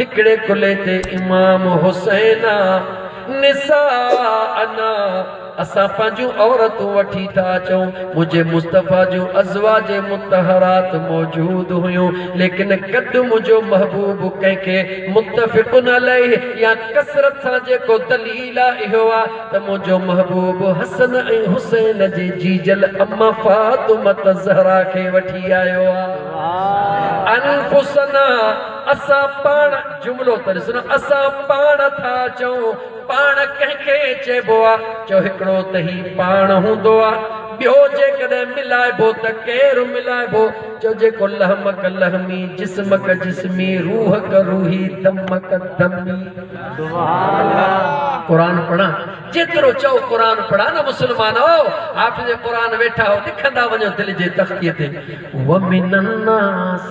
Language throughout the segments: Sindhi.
هڪڙي ڪلهي تي امام حسين آ نساء انا اسان پنهنجون عورتون وٺي ٿا اچون منهنجي مصطفيٰ جون ازواج مطهرات موجود هيون ليڪن قد منهنجو محبوب ڪنهن کي متفق عليه يا ڪثرت سان جيڪو دليل آ اهو آ ته منهنجو محبوب حسن ۽ حسين جي جيجل اما فاطمة الزهراء کي وٺي آيو آ انفسنا اسان پاڻ جملو ته ڏس نه اسان پاڻ ٿا چئون پاڻ ڪنهن کي چئبو آ چئو هڪڙو ته هي پاڻ هوندو آ ٻيو جيڪڏهن ملائبو ته ڪير ملائبو چئو جيڪو لحمڪ لحمي جسمڪ جسمي روحڪ روحي دمڪ دمي قرآن پڙهان جيترو چئو قرآن پڙهان نه مسلمانو حافظ قرآن ويٺا هو لکندا وڃو دل جي تختي تي ومن الناس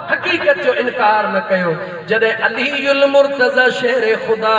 حقيقت جو انڪار نه ڪيو جڏهن علي المرتضيٰ شهر خدا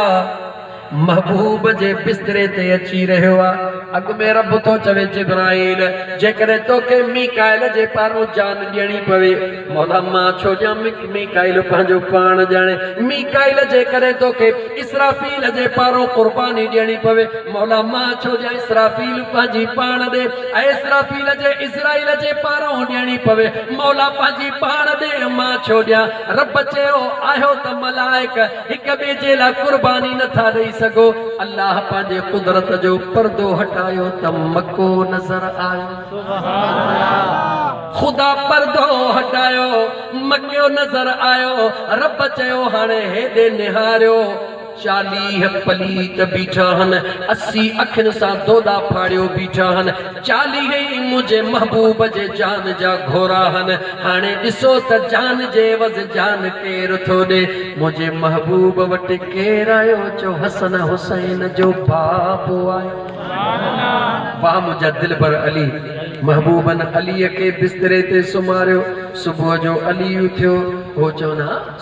محبوب جي بستري تي اچي رهيو آ اڳ ۾ رب ٿو چوي جبرائيل جيڪڏهن توکي ميڪائيل جي پارون جان ڏيڻي پوي مولا مان ڇو ڏيان ميڪائيل پنهنجو پاڻ ڄاڻي ميڪائيل جيڪڏهن توکي اسرافيل جي پارون قرباني ڏيڻي پوي مولا مان ڇو ڏيان اسرافيل پنهنجي پاڻ ڏي ۽ اسرافيل جي عزرائيل جي پارئون ڏيڻي پوي، مولا پنهنجي پاڻ ڏي، مان ڇو ڏيان؟ رب چيو، آهيو ته ملائڪ هڪ ٻئي جي لاء قرباني نه ٿا ڏئي سگهو. الله پنهنجي قدرت جو پردو هٽايو ته مڪو نظر آيو. خدا پردو هٽايو، مڪو نظر آيو. رب چيو، هاڻي هيڏي نهاريو. چاليهه پليت بيٺا هن، اسي اکين سان دودا ڦاڙيو بيٺا هن، چاليهه ئي منهنجي محبوب جي جان جا گهورا هن، هاڻي ڏسو ته جان جي عوض جان ڪير ٿو ڏي، منهنجي محبوب وٽ ڪير آيو جو حسن حسين جو بابو آيو. واهه منهنجا دلبر علي، محبوبن عليء کي بستري تي سمهاريو، صبح جو علي اٿيو، هو چون ها.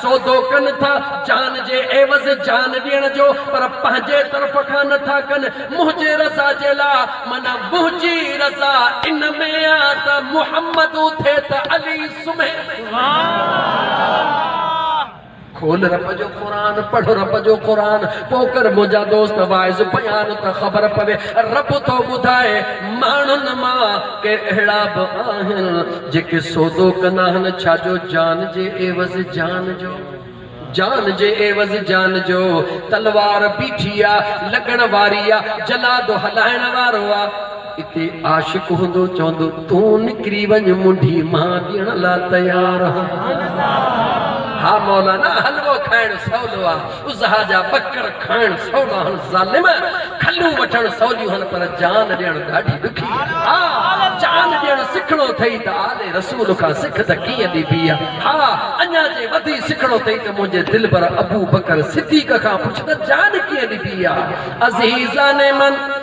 سودو ڪن ٿا جان جي عيوض جان ڏيڻ جو پر پنهنجي طرف کان نه ٿا ڪن منهنجي رضا جي لاء معنيٰ منهنجي رضا ان ۾ آ ته محمد اٿي ته علي سمهي. کول رب جو قرآن پڙهه رب جو قرآن پو ڪر منهنجا دوست واعظ بيان ته خبر پوي رب ٿو ٻڌائي ماڻهن مان ڪي اهڙا به آهن جيڪي سودو ڪن آهن ڇا جو جان جي عيوض جان جو جان جي عيوض جان جو تلوار بيٺي آ لڳڻ واري آ جلاد هلائڻ وارو آ اتي عاشق هوندو چوندو تون نڪري وڃ منڍي مان ڏيڻ لا تيار آهيان ها مولانا حلوو کائڻ سولو آ اضحيٰ جا ٻڪر کائڻ سولا هن ظالم، کلون وٺڻ سوليون هن پر جان ڏيڻ ڏاڍي ڏکي آ. ها! جان ڏيڻ سکڻو اٿئي ته آل رسول کان سک ته ڪيئن ڏبي آ. ها! اڃا جي وڌي سکڻو اٿئي ته منهنجي دلبر ابوبڪر صديق کان پڇ ته جان ڪيئن ڏبي آ. عزيزان من!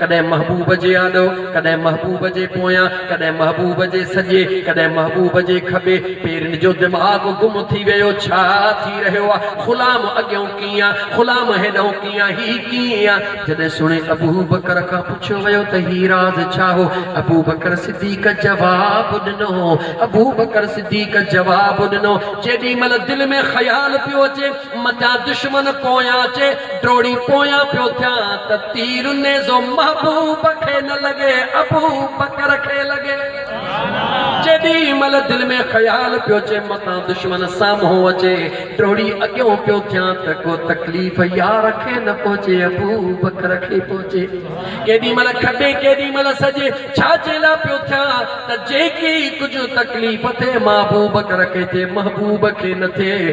ڪڏهن محبوب جي آڏو، ڪڏهن محبوب جي پويان، ڪڏهن محبوب جي سڄي، ڪڏهن محبوب جي کٻي. پيرين جو دماغ گم ٿي ويو، ڇا ٿي رهيو آ؟ غلام اڳيئون ڪيئن آ، غلام هيڏئون ڪيئن آ، هي ڪيئن آ؟ جڏهن سهڻي ابوبڪر کان پڇيو ويو ته هي راز ڇا هو؟ ابوبڪر صديق جواب ڏنو، ابوبڪر صديق جواب ڏنو، جيڏي مهل دل ۾ خيال پيو اچي، متان دشمن پويان اچي ڊوڙي پويان پيو ٿيان ته تير نيزو محبوب کي نه لڳي ابوبڪر کي لڳي جيڏي مھل دل ۾ خيال پيو اچي متان دشمن سامھون اچي ڊوڙي اڳيون پيو ٿيان ته ڪو تڪليف يار کي نه پهچي ابوبڪر کي پهچي ڪيڏي مھل کٽي ڪيڏي مھل سڄي ڇاجي لا پيو ٿيان ته جيڪي ڪجهه تڪليف ٿئي مان ابوبڪر کي ٿئي محبوب کي نه ٿئي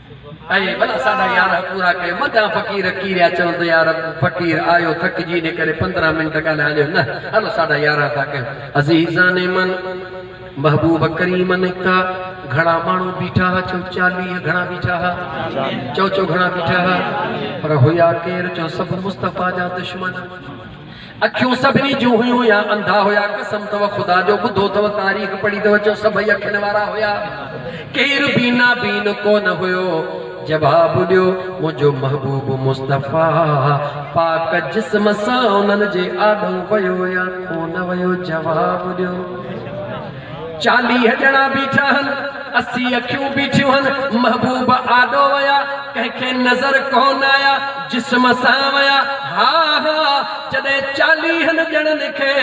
اي ڀلا ساڍا يارهن پورا ڪيو. مداح فقير ڪيريا چون ته يارب! فقير آيو ٿڪجي ان ڪري پندرهن منٽ ڳالهائي ليو نه هلو ساڍا يارهن ٿا ڪيون. عزيزان من محبوب ڪريم نڪتا، گهڻا ماڻهو بيٺا ها چون چاليهه گهڻا بيٺا ها؟ چون چون گهڻا بيٺا ها؟ پر هيا ڪير چون سڀ مصطفيٰ جا دشمن. اکيون سڀني جون هيون يا انڌا هيا قسم اٿو خدا جو ٻڌو اٿو تاريخ پڙهي ته اچو سڀئي اکين وارا هيا ڪير بي نابين ڪونه هيو جواب ڏيو منهنجو محبوب مصطفيٰ پاڪ جسم سان انهن جي آڏو ويو يا ڪونه ويو جواب ڏيو چاليهه ڄڻا بيٺا هن، اسي اکيون بيٺيون هن، محبوب آڏو ويا، ڪنهن کي نظر ڪونه آيا، جسم سان ويا، ها ها، جڏهن چاليهن ڄڻن کي،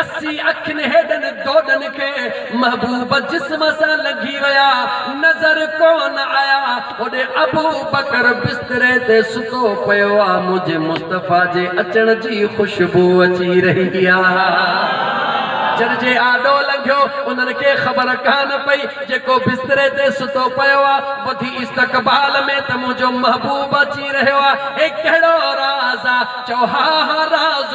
اسي اکين هيڏن دوڏن کي، محبوب جسم سان لنگهي ويا، نظر ڪونه آيا. هوڏي ابوبڪر بستري تي ستو پيو آ، منهنجي مصطفيٰ جي اچڻ جي خوشبو اچي رهي آ. چرجي آڏو لنگهيو، انهن کي خبر ڪانه پئي، جيڪو بستري تي ستو پيو آ، ٻڌي استقبال ۾ ته منهنجو محبوب اچي رهيو آ. هي ڪهڙو راز آ؟ چئو، ها ها راز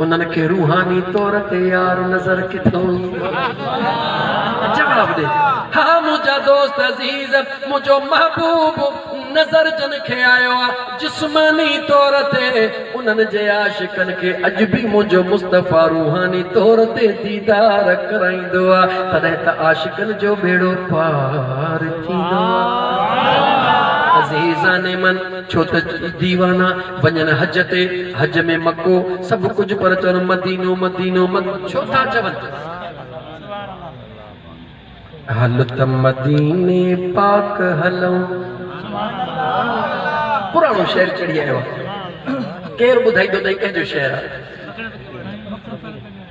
انهن کي روحاني طور تي يار نظر ڪٿئون ايندو آهي. جواب ڏي ها منهنجا دوست عزيز، منهنجو محبوب نظر جن کي آيو آهي جسماني طور تي انهن جي عاشقن کي اڄ به منهنجو مصطفيٰ روحاني طور تي ديدار ڪرائيندو آهي تڏهن ته عاشقن جو ٻيڙو پار ٿيندو آهي. عزيزان من! ڇو ته ديوانا وڃن حج تي، حج ۾ مڪو سڀ ڪجهه پر چون مدينو مدينو مد ڇو ٿا چون؟ هل ته مديني پاڪ هلون. پراڻو شعر چڙهي آيو آ. ڪير ٻڌائيندو ته هي ڪنهن جو شعر آ.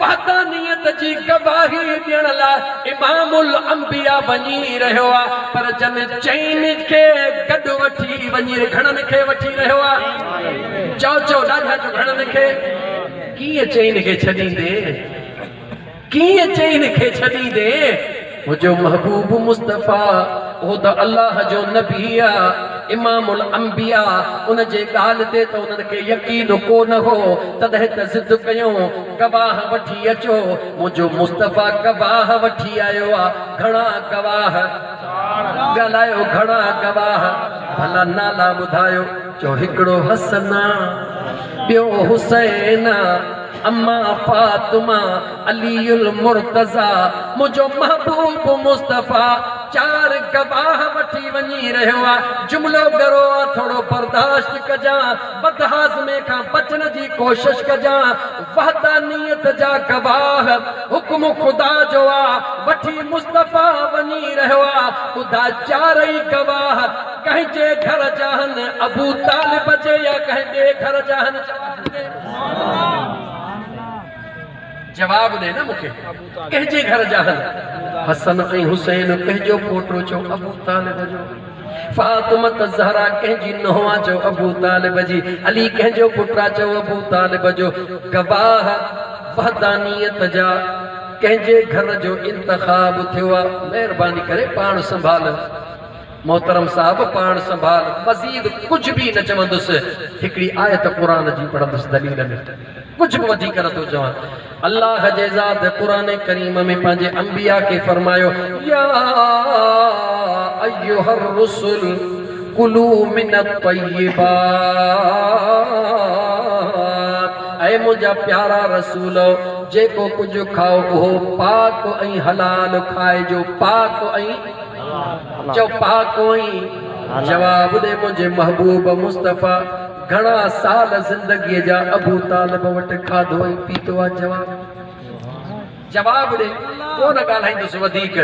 وحدانيت جي گواهي ڏيڻ لاء امام الانبياء وڃي رهيو آ پر جن چئن کي گڏ وٺي وڃي گهڻن کي وٺي رهيو آ چئو چئو ڏاڍا جو گهڻن کي ڪيئن چئن کي ڇڏيندين ڪيئن چئن کي ڇڏيندين. منهنجو محبوب مصطفيٰ اهو ته الله جو نبي آ امام الانبياء ان جي ڳالهه تي ته انهن کي يقين ڪو نه هو تڏهن ته ضد ڪيون گواهه وٺي اچو منهنجو مصطفيٰ گواهه وٺي آيو آ گهڻا گواهه ڳالهايو گهڻا گواهه ڀلا نالا ٻڌايو چئو هڪڙو حسن آ ٻيو حسين آ امان فاطمه علي المرتضيٰ منهنجو محبوب مصطفيٰ چار گواهه وٺي وڃي رهيو آ جملو ڳرو آ ٿورو برداشت ڪجان بدهاضمي کان بچڻ جي ڪوشش ڪجان وحدانيت جا گواهه حڪم خدا جو آ وٺي مصطفيٰ وڃي رهيو آ ٻڌاء چارئي گواهه ڪنهن جي گهر جا هن ابوطالب جي يا ڪنهن ٻي گهر جا هن چوار ڄڻي جواب ڏي نه مون کي ڪنهنجي گهر جا هل حسن ۽ حسين پنهنجو پوٽو جو ابو طالب جو فاطمه زهرا ڪنهنجي نهوا جو ابو طالب جي علي ڪنهنجو پٽرا جو ابو طالب جو گواهه وحدانيت جا ڪنهنجي گهر جو انتخاب ٿيو آ مهرباني ڪري پاڻ سنڀال محترم صاحب پاڻ سنڀال مزيد ڪجهه به نه چوندس هڪڙي آيت قرآن جي پڙهندس دليل ۾ ڪجهه به وڌيڪ نه ٿو چوان. الله جي ذات قرآن ڪريم ۾ پنهنجي انبياء کي فرمايو، يا ايها الرسل ڪلو من الطيبات اي منهنجا پيارا رسولؤ جيڪو ڪجهه کائو اهو پاڪ ۽ حلال کائجو پاڪ ۽ چئو پاڪ ۽ جواب ڏي منهنجي محبوب مصطفيٰ گهڻا سال زندگيء جا ابو طالب وٽ کاڌو ۽ پيتو آ جواب جواب ڏي ڪونه ڳالهائيندس وڌيڪ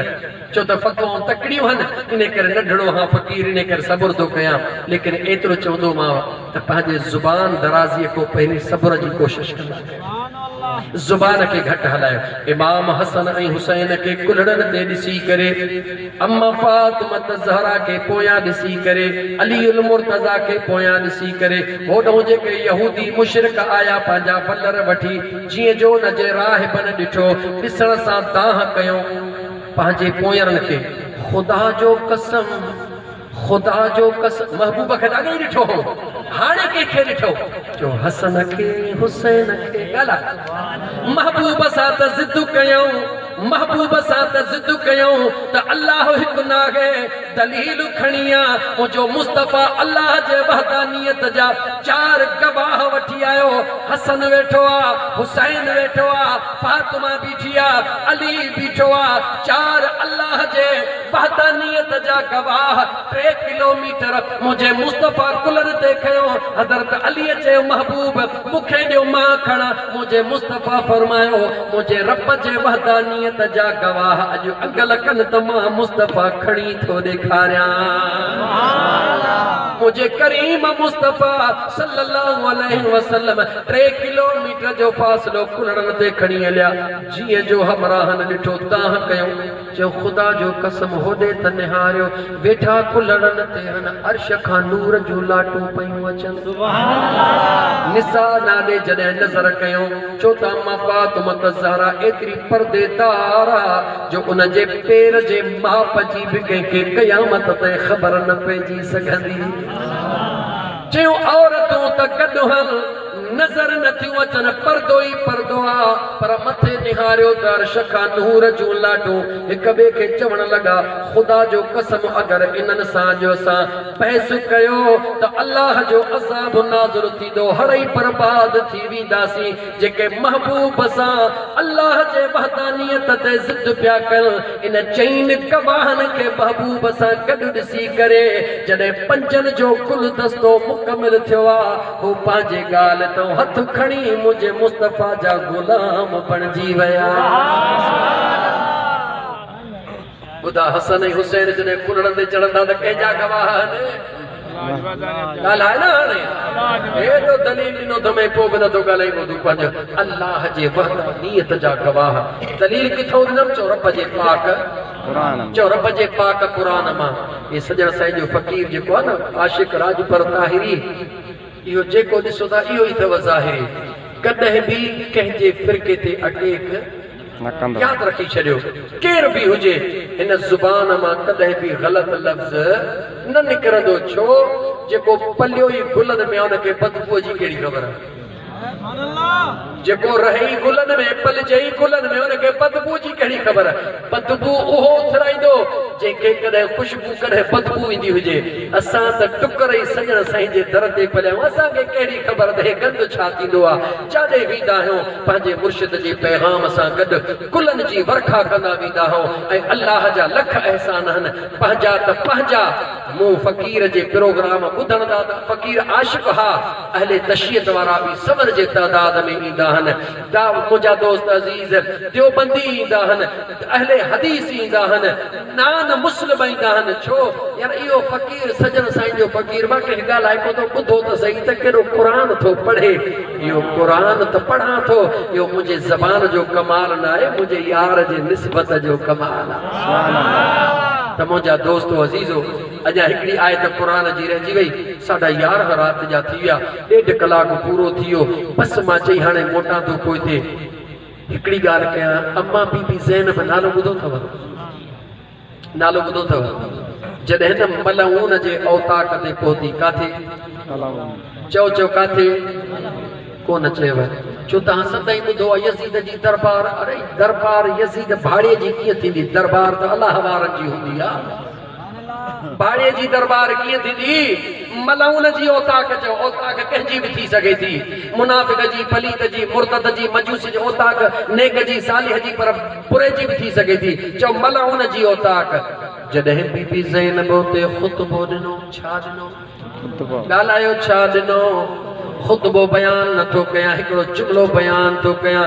ڇو ته فتوائون تڪڙيون هن انهي ڪري نڍڙو هان فقير انهي ڪري صبر ٿو ڪيان ليڪن ايترو چوندومانو ته پنهنجي زبان درازيء کان پهرين صبر جي ڪوشش ڪندا ڪريو. زبان کي گهٽ هلايو. امام حسن ۽ حسين کي ڪلهڙن تي ڏسي ڪري، امه فاطمة الزهراء کي پويان ڏسي ڪري، علي المرتضيٰ کي پويان ڏسي ڪري، هوڏهون جيڪي يهودي مشرڪ آيا پنهنجا ولر وٺي، جيئن جو ان جي راهبن ڏٺو، ڏسڻ سان دانهن ڪيو، پنهنجي پويرن کي. خدا جو قسم! خدا جو ڪس محبوب کي ته اڳي ئي ڏٺو هو هاڻي ڪنهن کي ڏٺو جو حسن کي حسين کي ڳالهاء محبوب سان ته ضد ڪيئون محبوب سان ته ضد ڪيئون ته الله هڪ ناهي دليل کڻي آ منهنجو مصطفيٰ الله جي وحدانيت جا چار گواهه وٺي آيو حسن ويٺو آ حسين ويٺو آ فاطمه بيٺي آ علي بيٺو آ چار الله جي وحدانيت جا گواهه ٽي ڪلوميٽر منهنجي مصطفيٰ ڪلر تي کنيو حضرت عليء چيو محبوب مون کي ڏيو مان کڻان منهنجي مصطفيٰ فرمايو منهنجي رب جي وحدانيت جا گواهه اڄ انگل ڪن ته مان مصطفيٰ کڻي ٿو ڏيکاريان. منهنجي ڪريم مصطفيٰ صلّي اللّٰه عليه وسلّم ٽي ڪلوميٽر جو فاصلو ڪلڙن تي کڻي هليا جيئن جو همراهن ڏٺو دانهن ڪيو. چيو خدا جو قسم هوڏي ته نهاريو ويٺا ڪلهڙن تي هن عرش کان نور جون لاٽون پيون اچن. نساء نه ڏي جڏهن نظر ڪيو چيو ته اما فاطمة الزهراء ايتري پردي دار آ جو ان جي پير جي ماپ جي به ڪنهن کي قيامت تائين خبر نه پئجي سگهندي. چيو عورتون ته گڏ هل. نظر نه ٿيون اچن پردو ئي پردو آ. پر مٿي نهاريو ته عرش کان نور جون لاٽون هڪ ٻئي کي چوڻ لڳا، خدا جو قسم اگر انهن سان جو اسان بحث ڪيو ته الله جو عذاب نازل ٿيندو هڙئي برباد ٿي وينداسين جيڪي محبوب سان الله جي وحدانيت تي ضد پيا ڪن ان چئن گواهن کي محبوب سان گڏ ڏسي ڪري جڏهن پنجن جو گلدستو مڪمل ٿيو آ هو پنهنجي ڳالهه تان هٿ کڻي منهنجي مصطفيٰ جا غلام بڻجي ويا. ٻڌا حسن ۽ حسين جڏهن ڪلهڙن تي چڙهندا ته ڪنهن جا گواهه آهن؟ ڳالهاء نه هاڻي. ايڏو دليل ڏنو اٿم ۽ پوء به نه ٿو ڳالهائين ٻڌ پنهنجي الله جي وحدانيت جا گواهه دليل ڪٿان ڏنم چؤ رب جي پاڪ چئو رب جي پاڪ قرآن مان. اهي سڄڻ سائين جو فقير جيڪو آهي نه عاشق راڄپر طاهري اهو جيڪو ڏسو ٿا اهو ئي اٿئو ظاهري ڪڏهن به ڪنهن جي فرقي تي اٽيڪ نه ڪندو ياد رکي ڇڏيو ڪير به هجي هن زبان مان ڪڏهن به غلط لفظ نه نڪرندو ڇو جيڪو پليو ئي گلن ۾ آهي ان کي بدبوء جي ڪهڙي خبر. جيڪو رهي ئي گلن ۾، پلجي ئي ڪلن ۾، ان کي بدبوء جي ڪهڙي خبر؟ بدبوء اهو اٿرائيندو، جنهن کي ڪڏهن خوشبوء ڪڏهن بدبوء ايندي هجي. اسان ته ٽڪر ئي سڄڻ سائين جي در تي پليا آهيون، اسان کي ڪهڙي خبر ته هي گند ڇا ٿيندو آهي؟ جاڏي ويندا آهيون، پنهنجي مرشد جي پيغام سان گڏ گلن جي ورکا ڪندا ويندا آهيون ۽ الله جا لک احسان آهن، پنهنجا ته پنهنجا. مون فقير جي پروگرام ٻڌڻ لاء ته فقير عاشق ها. اهل تشيعت وارا به سمر جي تعداد ۾ ايندا آهن. دا منهنجا دوست عزيز ديوبندي ايندا آهن، اهل حديث ايندا آهن، نان مسلم ايندا آهن. ڇو؟ يار اهو فقير سڄڻ سائين جو فقير مان ڪنهن ڳالهائي ڪو ٿو ٻڌو ته سهي ته ڪيڏو قرآن ٿو پڙهي. اهو قرآن ته پڙهان ٿو اهو منهنجي زبان جو ڪمال نه آهي منهنجي يار جي نسبت جو ڪمال آهي. ته منهنجا دوستو عزيزو! اڄان هڪڙي آيت قرآن جي رهجي وئي، ساڍا يارهن رات جا ٿي ويا، ڏيڍ ڪلاڪ پورو ٿي ويو، بس مان چئي هاڻي موٽان ٿو پوئتي هڪڙي ڳالهه ڪيان، امان بي بي زينب نالو ٻڌو اٿو؟ نالو ٻڌو اٿو؟ جڏهن نه ملعون جي اوطاق تي پهتي، ڪاٿي؟ چئو چئو ڪاٿي؟ ڪونه چيو، ڇو توهان سندائين ٻڌو آهي يزيد جي دربار، اڙي دربار يزيد ڀاڙي جي ڪيئن ٿيندي، دربار ته الله وارن جي هوندي آهي. ڀاڙي جي درٻار ڪيئن ٿيندي؟ ملعون جي اوطاق چئو، اوطاق ڪنهن جي به ٿي سگهي ٿي. منافق جي، پليت جي، مرتد جي، مجوس جي اوطاق، نيڪ جي، صالح جي پر بري جي به ٿي سگهي ٿي. چئو ملعون جي اوطاق. جڏهن بي بي زينب اتي خطبو ڏنو، ڇا ڏنو؟ ڳالهايو ڇا ڏنو؟ خطبو بيان نه ٿو ڪيان، هڪڙو جملو بيان ٿو ڪيان.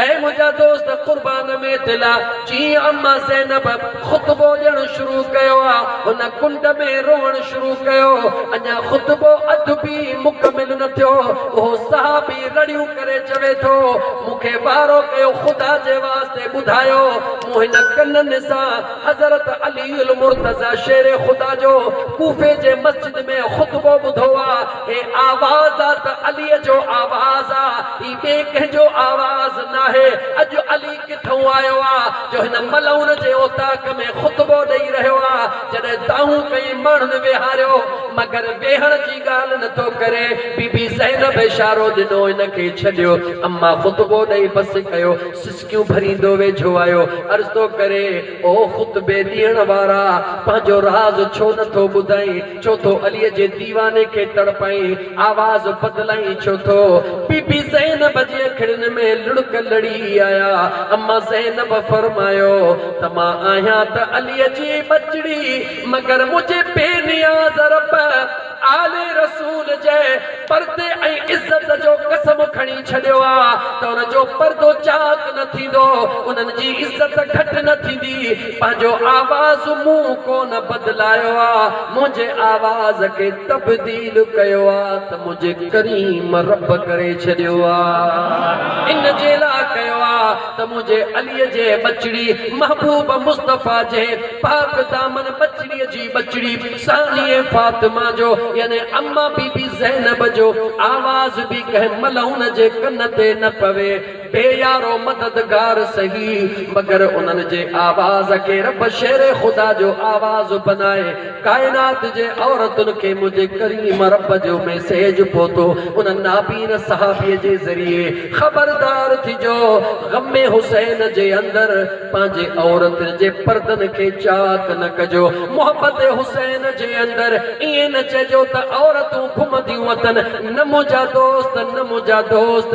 اي منهنجا دوست قربان ۾ دل آ جيئن اما زينب خطبو ڏيڻ شروع ڪيو آ هن ڪنڊ ۾ روئڻ شروع ڪيو اڃا خطبو اڌ به مڪمل نه ٿيو اهو صحابي رڙيون ڪري چوي ٿو مون کي وارو ڪيو خدا جي واسطي ٻڌايو مون هن ڪنن سان حضرت علي المرتضيٰ شير خدا جو ڪوفي جي مسجد ۾ خطبو ٻڌو آ هي آواز آ ته علي جو آواز آ ڀاٽي ۾ ڪنهن جو آواز ناهي، اڄ علي ڪٿئون آيو آ جو هن ملعون جي اوطاق ۾ خطبو ڏئي رهيو آ، جڏهن دانهون ڪئين ماڻهن ويهاريو، مگر ويهڻ جي ڳالهه نه ٿو ڪري، بي بي زينب اشارو ڏنو ان کي ڇڏيو، اما خطبو ڏئي بس ڪيو، سسڪيون ڀريندو ويجهو آيو، عرض ٿو ڪري، او خطبي ڏيڻ وارا! پنهنجو راز ڇو نه ٿو ٻڌائين؟ ڇو ٿو عليء جي ديواني کي تڙپائين؟ آواز بدلائين ڇو ٿو؟ بيبي زينب جي اکڙين ۾ لڙڪ لڙي آيا. اما زينب فرمايو ته مان آهيان ته عليء جي ٻچڙي، مگر منهنجي بي نياز رب آل رسول جي پردي ۽ عزت جو قسم کڻي ڇڏيو آهي ته ان جو پردو چاڪ نه ٿيندو، انهن جي عزت گهٽ نه ٿيندي. پنهنجو آواز مون ڪونه بدلايو آ منهنجي آواز کي تبديل ڪيو آ ته منهنجي ڪريم رب ڪري ڇڏيو آ ان جي لا ڪيو آ ته منهنجي علي جي ٻچڙي محبوب مصطفيٰ جي پاڪ دامن ٻچڙي جي ٻچڙي ثانيء فاطمه جو يعني اما بي بي زينب جو آواز به ڪنهن ملعون جي ڪن تي نه پوي اي يارو مددگار سهي مگر انهن جي آواز کي رب شير خدا جو آواز بنائي ڪائنات جي عورتن کي منهنجي ڪريم رب جو ميسيج پهتو ان نابين صحابي جي ذريعي خبردار ٿجو غم حسين جي اندر پنهنجي عورتن جي پردن کي چاڪ نه ڪجو محبت حسين جي اندر ائين نه چئجو ته عورتون گهمنديون اٿن نه منهنجا دوست نه منهنجا دوست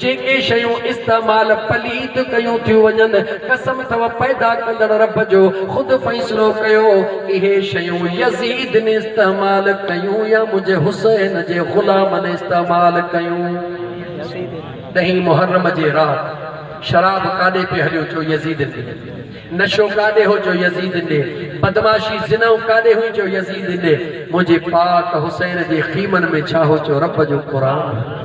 جيڪي شيون استعمال پليت ڪيون ٿيون وڃن، قسم اٿو پيدا ڪندڙ رب جو، خود فيصلو ڪيو، اهي شيون يزيد ني استعمال ڪيون يا منهنجي حسين جي غلام ني استعمال ڪيون. ڏهين محرم جي رات شراب ڪاڏي پئي هليو چو يزيد ني. نشو ڪاڏي هو جو يزيد ڏي، بدمعاشي زنائون ڪاڏي هئي جو يزيد ڏي، منهنجي پاڪ حسين جي خيمن ۾ ڇا هو جو رب جو قرآن هو،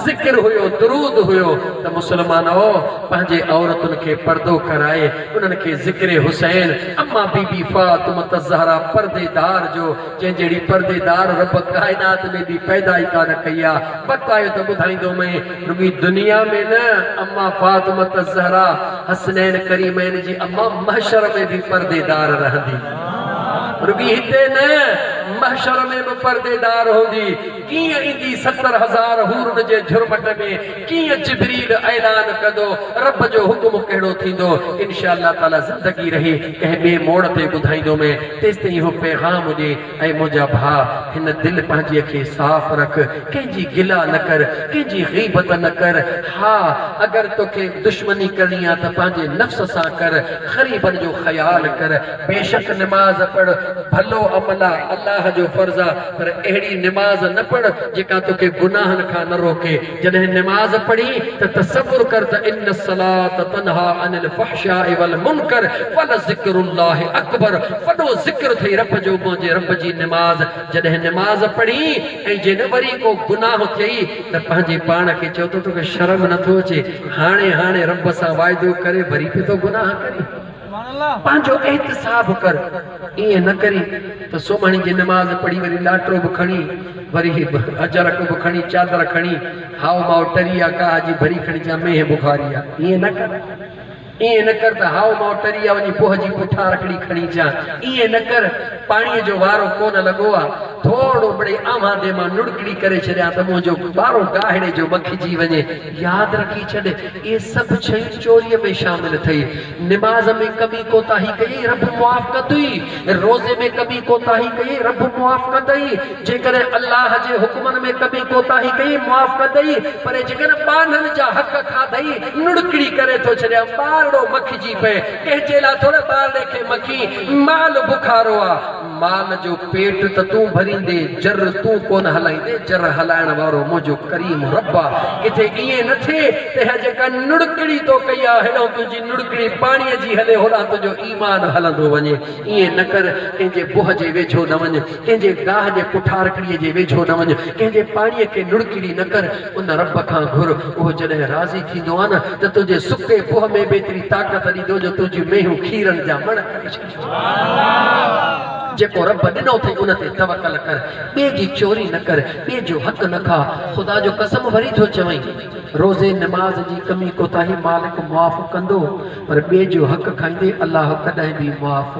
ذڪر هيو، درود هيو ته مسلمانؤ! پنهنجي عورتن کي پردو ڪرائي انهن کي ذڪر حسين، اما بي بي فاطمة الزهراء پردي دار جو جنهن جهڙي پردي دار رب ڪائنات ۾ ٻي پيدا ئي ڪانه ڪئي آ، وقت آيو ته ٻڌائيندومئين. رڳي دنيا ۾ نه، اما فاطمة الزهراء حسنين ڪريمين جي اما محشر ۾ به پرديدار رهندي. رڳي هتي نه، محشر ۾ به پرديدار هوندي. ڪيئن ايندي ستر هزار حورن جي جهرمٽ ۾، ڪيئن جبريل اعلان ڪندو، رب جو حڪم ڪهڙو ٿيندو، انشاء الله تعاليٰ زندگي رهي ڪنهن ٻئي موڙ تي ٻڌائيندومين، تيستائين اهو پيغام ڏي، اي منهنجا ڀاء! هن دل پنهنجيء کي صاف رک، ڪنهن جي گلا نه ڪر، ڪنهن جي غيبت نه ڪر. ها! اگر توکي دشمني ڪرڻي آ ته پنهنجي نفس سان ڪر، غريبن جو خيال ڪر. بيشڪ نماز پڙهه ڀلو عمل آ، الله جو فرض آ، پر اهڙي نماز نه پڙهه جيڪا توکي گناهن کان نه روڪي. جڏهن نماز پڙهين ته تصور ڪر ته ان الصلاة تنهيٰ عن الفحشاء والمنڪر ولذڪر الله اڪبر وڏو ذڪر اٿئي رب جو منهنجي رب جي نماز جڏهن نماز پڙهين ۽ جي نه وري ڪو گناهه ٿئي ته پنهنجي پاڻ کي چئو ته توکي شرم نٿو اچي هاڻي هاڻي رب سان واعدو ڪري وري پئي ٿو گناهه ڪرين. پنهنجو احتساب ڪر، ائين نه ڪرين ته سومهڻي جي نماز پڙهي وري ڏاٽرو به کڻي وري اجرڪ به کڻي چادر کڻي هائو مائو ٽري آ ڪاهه جي ڀري کڻي چا مينهن بخاري آ ائين نه ڪر ائين نه ڪر ته هائو مائو ٽري آ وڃي پوهه جي پٺا رکڙي کڻي چا ائين نه ڪر پاڻي جو وارو ڪونه لڳو آ ٿورڙو مڙئي آنوهان دي مان نڙڪڙي ڪري ڇڏيان ته منهنجو ٻارو گاهڙي جو مکجي وڃي ياد رکي ڇڏ اهي سڀ شيون چوري ۾ شامل اٿئي نماز ۾ ڪبي ڪوتاهي ڪيئي، رب معاف ڪندئي. روزي ۾ ڪبي ڪوتاهي ڪيئي، رب معاف ڪندئي. جيڪڏهن الله جي حڪمن ۾ ڪبي ڪوتاهي ڪيئي، معاف ڪندئي. پر جيڪڏهن ٻانهن جا حق کاڌئي، نڙڪڙي ڪري ٿو ڇڏيان، ٻارڙو مکجي پئي، ڪنهن جي لاء ٿوري ٻارڙي کي مکين، مال بخارو آ. مال جو پيٽ ته تون ڀريندي، جر تون ڪونه هلائيندي، جر هلائڻ وارو منهنجو ڪريم رب آ، ڪٿي ائين نه ٿئي ته هي جيڪا نڙڪڙي تو ڪئي آ، هيڏانهن تنهنجي نڙڪڙي پاڻيء جي هلي، هوڏانهن تنهنجو ايمان هلندو وڃي. ائين نه ڪر، ڪنهن جي بوهه جي ويجهو نه وڃ، ڪنهن جي گاهه جي پٺارڪڙيء جي ويجهو نه وڃ، ڪنهن جي پاڻيء کي نڙڪڙي نه ڪر، ان رب کان گهر، اهو جڏهن راضي ٿيندو آ نه ته تنهنجي سڪي بوهه ۾ به ايتري طاقت ڏيندو جو تنهنجون مينهيون کيرن جا مڻ ڪري ڇڏيندو. جيڪو رب ڏنو اٿئي ان تي توڪل ڪر، ٻئي جي چوري نه ڪر، ٻئي جو حق نه کاء، خدا جو قسم وري ٿو چوين، روزي نماز جي ڪمي ڪوتاهي مالڪ معاف ڪندو پر ٻئي جو حق کائيندي الله ڪڏهن به معاف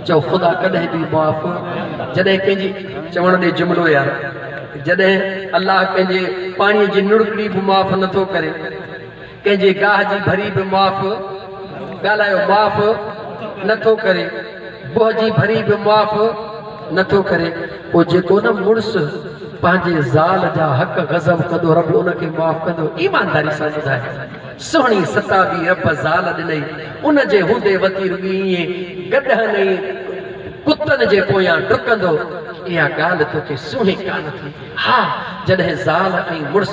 چئو خدا ڪڏهن به معاف جڏهن ڪنهن جي چوڻ ڏي جملو يار جڏهن الله ڪنهن جي پاڻي جي نڙڪڙي به معاف نه ٿو ڪري. ڪنهن جي گاهه جي ڀري به معاف، ڳالهايو معاف نه ٿو ڪري، بوهه جي ڀري به معاف نه ٿو ڪري، پوء جيڪو نه مڙس پنهنجي زال جا حق غضب ڪندو رب ان کي معاف ڪندو؟ ايمانداري سان ٻڌاء سهڻي ستابي رب زال ڏنئي ان جي هوندي وتي رڳي ائين گڏهن ۽ ڪتن جي پويان ڊڪندو، اها ڳالهه توکي سونهي ڪانه ٿي، ها جڏهن زال ۽ مڙس.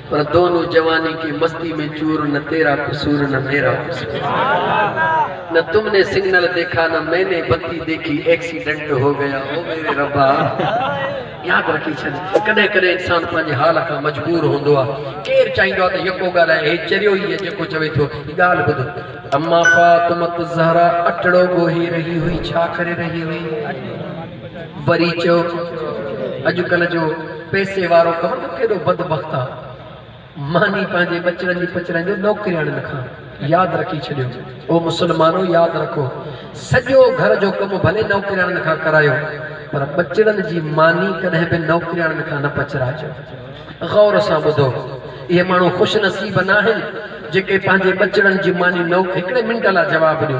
پر دونو جواني ڪي مستي مين چور نه تيرا قصور نه ميرا قصور نه تم ني سگنل ديکا نه مين ني بتي ديکي ايڪسيڊنٽ هو گيا او ميري ربا ياد رکي ڇڏ ڪڏهن ڪڏهن انسان پنهنجي حال کان مجبور هوندو آ ڪير چاهيندو آ ته يڪو ڳالهائي هي چريو ئي آ جيڪو چوي ٿو هي ڳالهه ٻڌ اما فاطمة الزهراء اٽڙو ڳوهي رهي هئي ڇا ڪري رهي هئي؟ وري چيو اڄ ڪلهه جو پئسي وارو خبر اٿو ڪيڏو بدبخت آ. ماني پنهنجي ٻچڙن جي پچڙن جو نوڪرياڻين کان ياد رکي ڇڏيو. او مسلمانو ياد رکو سڄو گهر جو ڪم ڀلي نوڪرياڻين کان ڪرايو پر ٻچڙن جي ماني ڪڏهن به نوڪرياڻين کان نه پچرائجو. غور سان ٻڌو اهي ماڻهو خوش نصيب ناهن جيڪي پنهنجي ٻچڙن جي ماني نوڪ هڪڙي منٽ لا جواب ڏيو.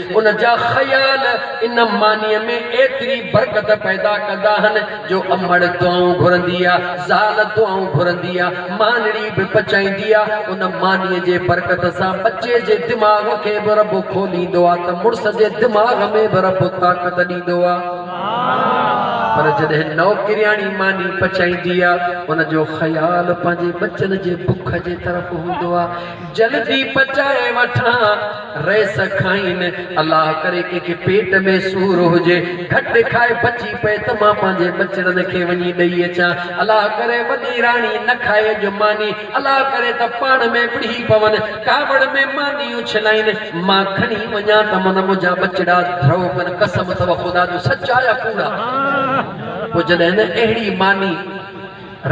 ان جا خيال ان مانيء ۾ ايتري برڪت پيدا ڪندا آهن جو امڙ دعائون گهرندي آ، زال دعائون گهرندي آ، مانڙي به پچائيندي آ. ان مانيء جي برڪت سان ٻچي جي دماغ کي به رب کوليندو آ ته مڙس جي دماغ ۾ به رب طاقت ڏيندو آ. پر جڏهن نوڪرياڻي ماني پچائيندي آ، ان جو خيال پنهنجي ٻچن جي بک جي طرف هوندو آ. جلدي پچائي وٺان. رئيس کائين، الله ڪري ڪنهن کي پيٽ ۾ سور هجي، گهٽ کائي بچي پئي ته مان پنهنجي ٻچڙن کي وڃي ڏئي اچان. الله ڪري وڏي راڻي نه کائي اڄ ماني، الله ڪري ته پاڻ ۾ وڙهي پون، ڪاوڙ ۾ ماني اڇلائين، مان کڻي وڃان ته من منهنجا ٻچڙا ڌرئو ڪن، قسم اٿئو خدا جو سچ آ يا ڪوڙ آ؟ پوء جڏهن نه اهڙي ماني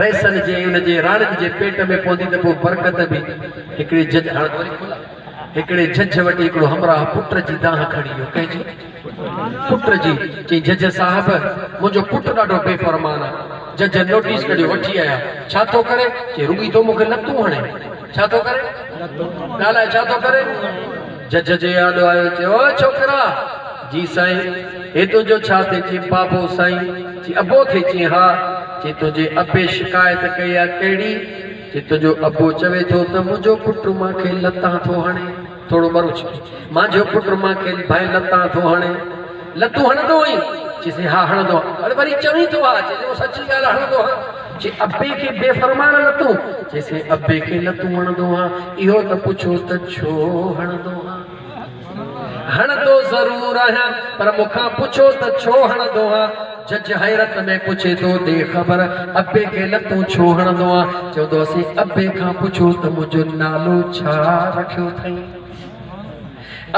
رئيسن جي ۽ ان جي راڻين جي پيٽ ۾ پوندي ته پوء برڪت به هڪڙي جج هاڻ ته وري کلا. هڪڙي جھجھ وٽ هڪڙو همراهه پٽ جي دانهن کڻي ويو. ڪنهن جي؟ پٽ جي. چيائين جھجھ صاحب، منهنجو پٽ ڏاڍو بي فرمان آ. جھجھ نوٽيس ڪڍيو وٺي آيا. ڇا ٿو ڪري؟ چيائين رڳي تو مون کي لتون هڻي. ڇا ٿو ڪري؟ ڳالهاء ڇا ٿو ڪري؟ جھجھ جي آڏو آيو چيو او ڇوڪرا! جي سائين! هي تنهنجو ڇا ٿئي؟ چيائين بابو سائين! چيائين ابو ٿئي؟ چيائين ها. چيائين تنهنجي ابي شڪايت ڪئي آ ڪهڙي؟ جت جو ابو چوي ٿو ته منهنجو پٽ مان کي لتان ٿو هڻي، ٿورو مرو ڇڪي، مانجهو پٽ مان کي ڀائين لتان ٿو هڻي، لتون هڻندو هئين؟ چيسين ها هڻندو هان، اڙي وري چوين ٿو ها، چيسين هو سچي ڳالهه هڻندو هان، چي ابي کي بي فرمان لتون، چيسين ابي کي لتون هڻندو هان، اهو ته پڇو ته ڇو هڻندو هان. هڻندو ضرور آهيان پر مون کان پڇو ته ڇو هڻندو آهيان؟ جج حيرت ۾ پڇي ٿو ڏي خبر ابي کي نه تون ڇو هڻندو آهين؟ چوندو اسين ابي کان پڇو ته منهنجو نالو ڇا رکيو ٿئين؟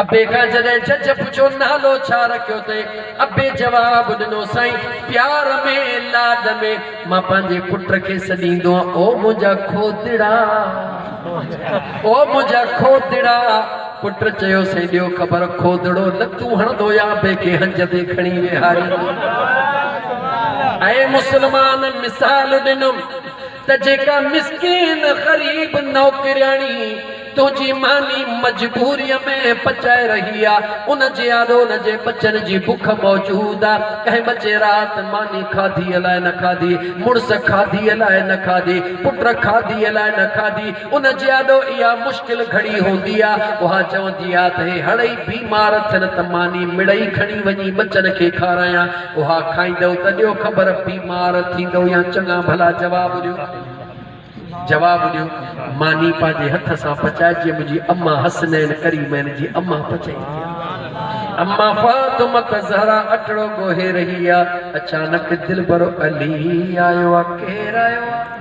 ابي کان جڏهن جج پڇيو نالو ڇا رکيو ٿئين؟ ابي جواب ڏنو سائين پيار ۾ لاڏ ۾ مان پنهنجي پٽ کي سڏيندو آهيان او منهنجا کوتڙا او منهنجا کوتڙا. پٽ چيو سائين ڏيو خبر کوڌڙو لتون هڻندو يا بي کي هنج تي کڻي ويهاريندو ۽ مسلمان مثال ڏنم ته جيڪا مسڪين غريب نوڪرياڻي تنهنجي ماني مجبوريء ۾ پچائي رهي آ ان جي آڏو ان جي ٻچن جي بک موجود آ ڪنهن ٻچي رات ماني کاڌيء لاء نه کاڌي مڙس کاڌيء لاء نه کاڌي پٽ کاڌيء لاء نه کاڌي ان جي آڏو اها مشڪل گهڙي هوندي آ، اها چوندي آ ته هي هڙئي بيمار ٿين ته ماني مڙئي کڻي وڃي ٻچن کي کارايان، اها کائيندؤ ته ڏيو خبر بيمار ٿيندؤ يا چڱا ڀلا جواب ڏيو، جواب ڏيو، ماني پنهنجي هٿ سان پچائي جيئن منهنجي امه حسنين ڪريمين جي امه پچائي ٿي. امه فاطمه الزهرا اٽڙو ڳوهي رهي آ، اچانڪ دلبرو علي آيو آ، ڪير آيو آ؟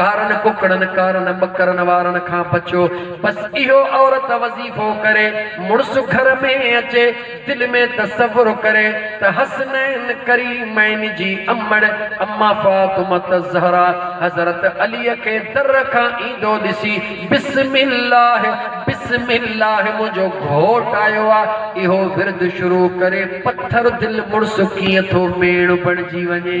ڪارن ڪڪڙن ڪارن ٻڪرن وارن کان بچو بس اهو عورت وظيفو ڪري مڙس گهر ۾ اچي دل ۾ تصور ڪري ته حسنين ڪريمين جي امڙ اما فاطمة الزهراء حضرت علي کي در کان ايندو ڏسي بسم الله بسم الله منهنجو گهوٽ آيو آ اهو ورد شروع ڪري پٿر دل مڙس ڪيئن ٿو ميڻ بڻجي وڃي.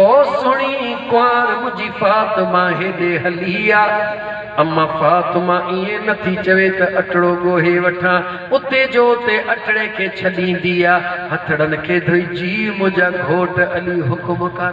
او سھڻي ڪنوار منھنجي فاطمه ھيڏي ھلي آ. اما فاطمه ائين نه ٿي چوي ته اٽڙو ڳوھي وٺان، اتي جو اتي اٽڙي کي ڇڏيندي آ. ھٿڙن کي ڌوئي جي منھنجا گھوٽ علي حڪم ڪر.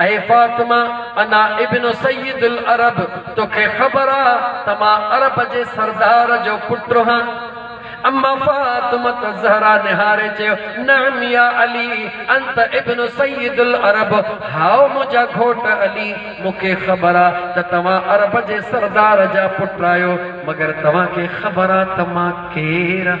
اي فاطمه انا ابن سيد العرب توکي خبر آ ته مان عرب جي سردار جو پٽ هان؟ اما فاطمة الزهرا نهاري چيو، نعم يا علي انت ابن سيد العرب هائو منهنجا گهوٽ علي مون کي خبر آ ته توهان عرب جي سردار جا پٽ آهيو مگر توهان کي خبر آ ته مان ڪير هان؟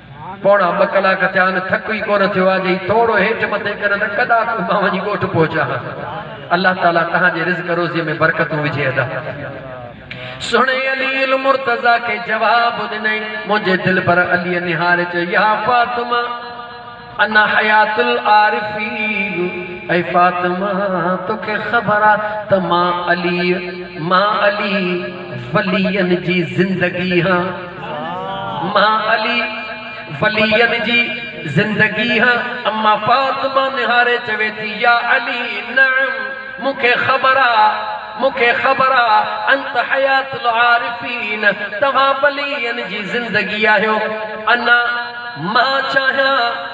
پوڻا ٻه ڪلاڪ ٿيا آهن، ٿڪ ئي ڪونه ٿيو آهي، جئين ٿورو هيٺ مٿي ڪريان ته ڪڏا ڪو مان وڃي ڳوٺ پهچان ها. الله تعاليٰ توهان جي رزق روزيء ۾ برڪتون وجهي ادا. سهڻي علي المرتضيٰ کي جواب ڏنئين، منهنجي دلبر عليء نهاري چيو، يا فاطمه انا حيات العارفين، اي فاطمه توکي خبر آ ته مان عليء، مان علي ولين جي زندگي هان. مان علي ولين جي زندگيء اما فاطمه نهاري چوي ٿي، يا علي نعم مون کي خبر آ، مون کي خبر آ، انت حيات العارفين توهان ولين جي زندگي آهيو. انا مان چاهيان.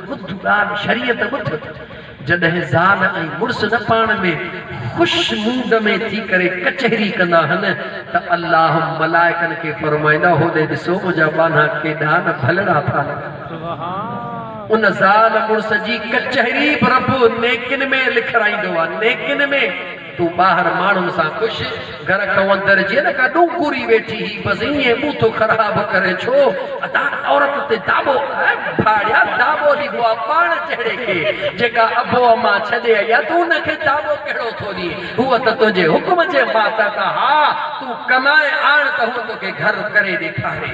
ٻڌ ڳالهه شريعت ٻڌ، جڏهن زال ۽ مڙس نه پاڻ ۾ خوش موڊ ۾ ٿي ڪري ڪچهري ڪندا هن ته الله ملائڪن کي فرمائيندا هوڏي ڏسو منهنجا ٻانها ڪيڏا نه ڀلڙا ٿا لڳن. ان زال مڙس جي ڪچهري به رب نيڪين ۾ لکرائيندو آهي، نيڪين ۾. تون ٻاهر ماڻهن سان خوش، گهر کان اندر جيئن نه ڪا ڏونڪوري ويٺي هئي، بس ائين مون ٿو خراب ڪرين ڇو؟ ادا عورت تي داٻو ۽ ڀاڙيا داٻو ڏبو آ پاڻ جهڙي کي، جيڪا ابو اما ڇڏي آئي آ، تون ان کي داٻو ڪهڙو ٿو ڏين؟ هوء ته تنهنجي حڪم جي ماتحت آ، ها تون ڪمائي آڻ ته هوء توکي گهر ڪري ڏيکاري.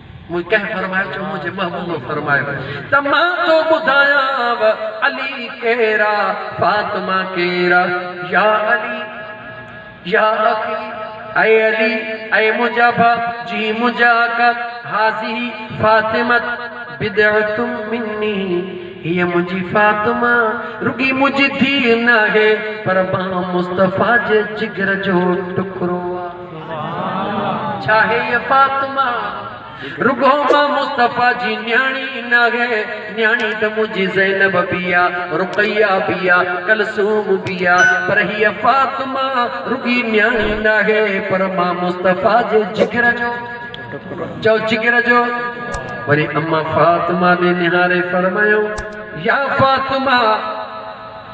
مون ڪنهن فرمايو چو منهنجي محبوب فرمايو ته مان ٿو ٻڌايانء علي ڪير آ فاطمه ڪير آ يا علي يا اخي اي علي اي منهنجا ڀا جي منهنجا آقا هذه فاطمه بضعة مني هيء منهنجي فاطمه رڳي منهنجي ڌيء ناهي پر مان مصطفيٰ جي جگر جو ٽڪرو آ. ڇا هيء فاطمه رڳو مان مصطفيٰ جي نياڻي ئي ناهي، نياڻي ته منهنجي زينب به آ، رقيه به آ، ڪلثوم به آ، پر هيء فاطمه رڳي نياڻي ناهي، پر مان مصطفيٰ جي جگر جو ٽڪرو آهيان. چئو جگر جو؟ وري اما فاطمه ڏي نهاري فرمايائون، يا فاطمه!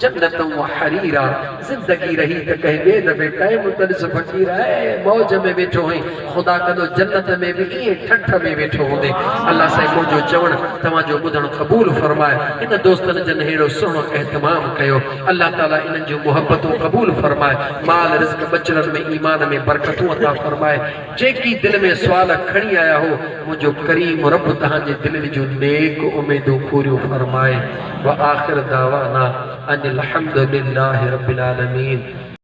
جنت و حرير آ زندگي رهي ته ڪنهن ٻئي دفعي ٽائيم ته ڏس فقير اهي موج ۾ ويٺو هئين خدا ڪندو جنت ۾ به ائين ٺٺ ۾ ويٺو هوندين الله سائين منهنجو چوڻ توهان جو ٻڌڻ قبول فرمائي هن دوستن جن ههڙو سهڻو اهتمام ڪيو الله تعالي انهن جون محبتون قبول فرمائي مال رزق ٻچڙن ۾ ايمان ۾ برڪتون عطا فرمائي جيڪي دل ۾ سوال کڻي آيا هو، منهنجو ڪريم رب توهان جي دلين جون نيڪ اميدون پوريون فرمائي. وآخر دعوانا ان الحمدلله رب العالمين.